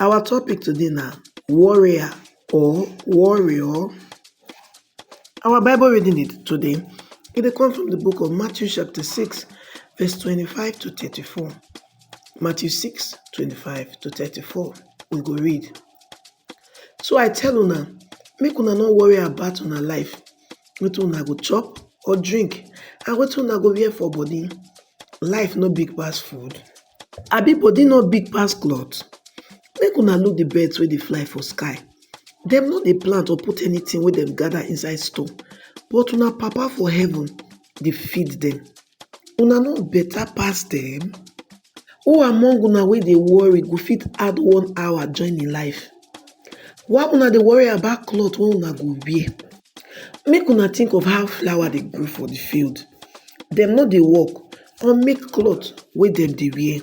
Our topic today na warrior or warrior. Our Bible reading today e dey come from the book of Matthew chapter 6 verse 25 to 34. Matthew 6 25 to 34 we go read. So I tell una make una no worry about una life wetin una go chop or drink and wetin una go wear for body. Life no big pass food Abi body no big pass cloth? Make una look the birds wey dey fly for sky. Dem no dey plant or put anything wey dem gather inside store, but una Papa for heaven dey feed dem. Una no better pass dem? Who among una wey dey worry go fit add one hour join im life? Why una dey worry about cloth wey una go wear? Make una think of how flower dey grow for the field. Dem no dey work, or make cloth wey dem dey wear.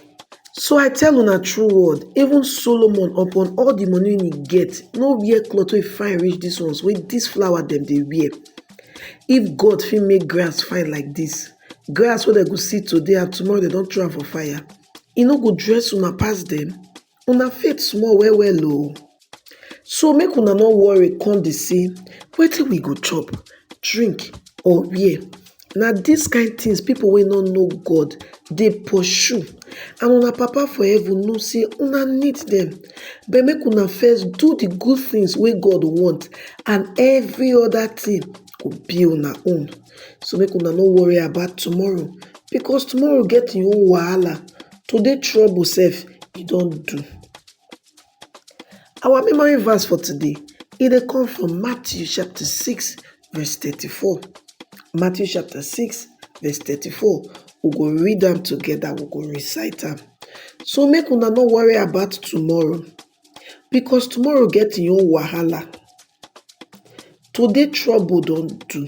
So I tell una true word, even Solomon upon all the money wey he get no wear cloth wey fine reach dis ones wey dis flower dem dey wear. If God fit make grass fine like dis, grass wey dem go see today and tomorrow dem don throw am for fire, e no go dress una pass dem? Una faith small well well o, so make una no worry come dey say wetin we go chop, drink or wear, na dis kind things people wey no know God dey pursue and una papa for heaven know say una need dem but make una first do the good things wey God want and every other thing go be una own. So make una no worry about tomorrow because tomorrow get im own wahala. to dey trouble sef e don do. Our memory verse for today e dey come from Matthew chapter six verse thirty-four. Matthew chapter six verse thirty-four we go read am together we go recite am. So make una no worry about tomorrow because tomorrow get im own wahala. Today trouble don do.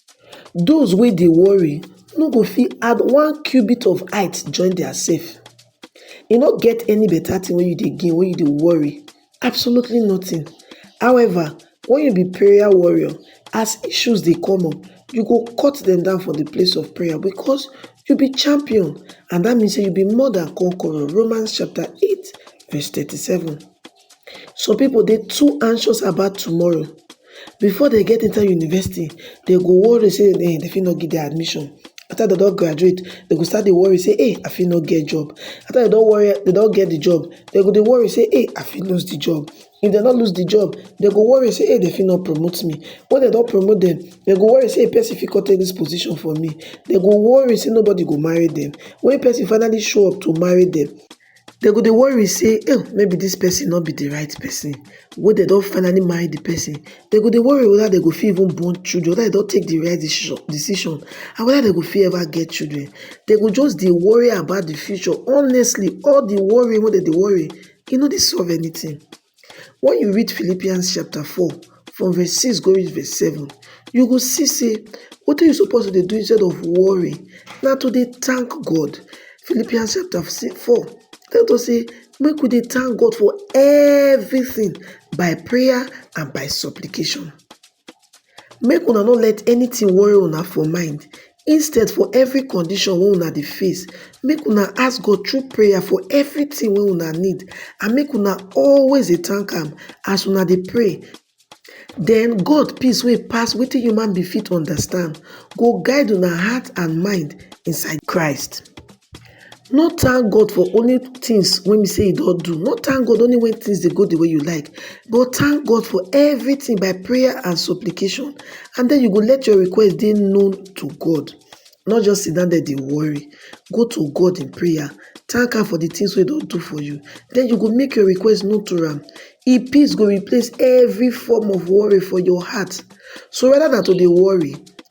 Those wey dey worry no go fit add one cubit of height join their self. E no get any better thing wey you dey gain when you dey worry, absolutely nothing. However, when you be prayer warrior, as issues dey come up, you go cut them down for the place of prayer because you be champion and that means say you be more than conqueror, Romans chapter 8 verse 37. some people dey too anxious about tomorrow before dey get enter university dey go worry say dey fit no get admission after dey don graduate dey go start dey worry say eeh I fit no get job after dey don worry dey don get the job dey go dey worry say eeh I fit lose the job if dey no lose the job dey go worry say eeh dey fit no promote me when dey don promote dem dey go worry say person fit come take this position from me dey go worry say nobody go marry dem when person finally show up to marry dem Dem go dey worry sey oh maybe dis person no be de right person wey dem don finally marry de person dem go dey worry whether dem go fit even born children whether dem don take de right decision and whether dem go fit ever get children dem go just dey worry about de future honestly all de worrying wey dem dey worry e no dey solve anything Wen you read Philippians chapter four from verse six go reach verse seven, you go see say wetin you suppose to dey do instead of worry na to dey thank God. Philippians chapter four tell us say make we dey thank God for everything by prayer and by supplication. Make una no let anything worry una for mind instead for every condition wey una dey face make una ask God through prayer for everything wey una need and make una always dey thank am as una dey pray then God peace wey pass wetin human being fit understand go guide una heart and mind inside Christ. No thank God for only things wey be sey e don do, no thank God only when things dey go the way you like but thank God for everything by prayer and supplication and then you go let your request dey known to God no just sit down there dey worry go to God in prayer thank am for the things wey e don do for you then you go make your request known to am im peace go replace every form of worry for your heart so rather than to dey worry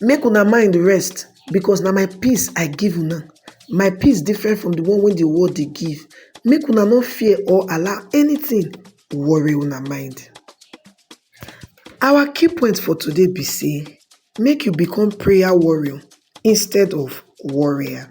Make una mind rest, because na my peace I give una. My peace different from the one wey the world dey give. Make una no fear or allow anything worry una mind. Our key point for today be say make you become prayer warrior instead of worrier.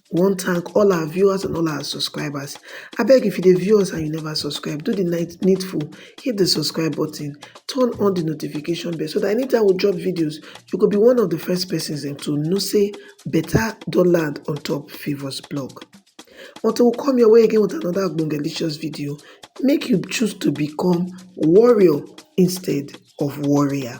wan thank all our viewers and all our subscribers abeg if you dey view us and you never subscribe do the needful hit the subscribe button turn on the notification bell so that anytime we drop videos you go be one of the first persons dem to know say better don land on top favours blog until we come your way again with another delicious video make you choose to become warrior instead of warrior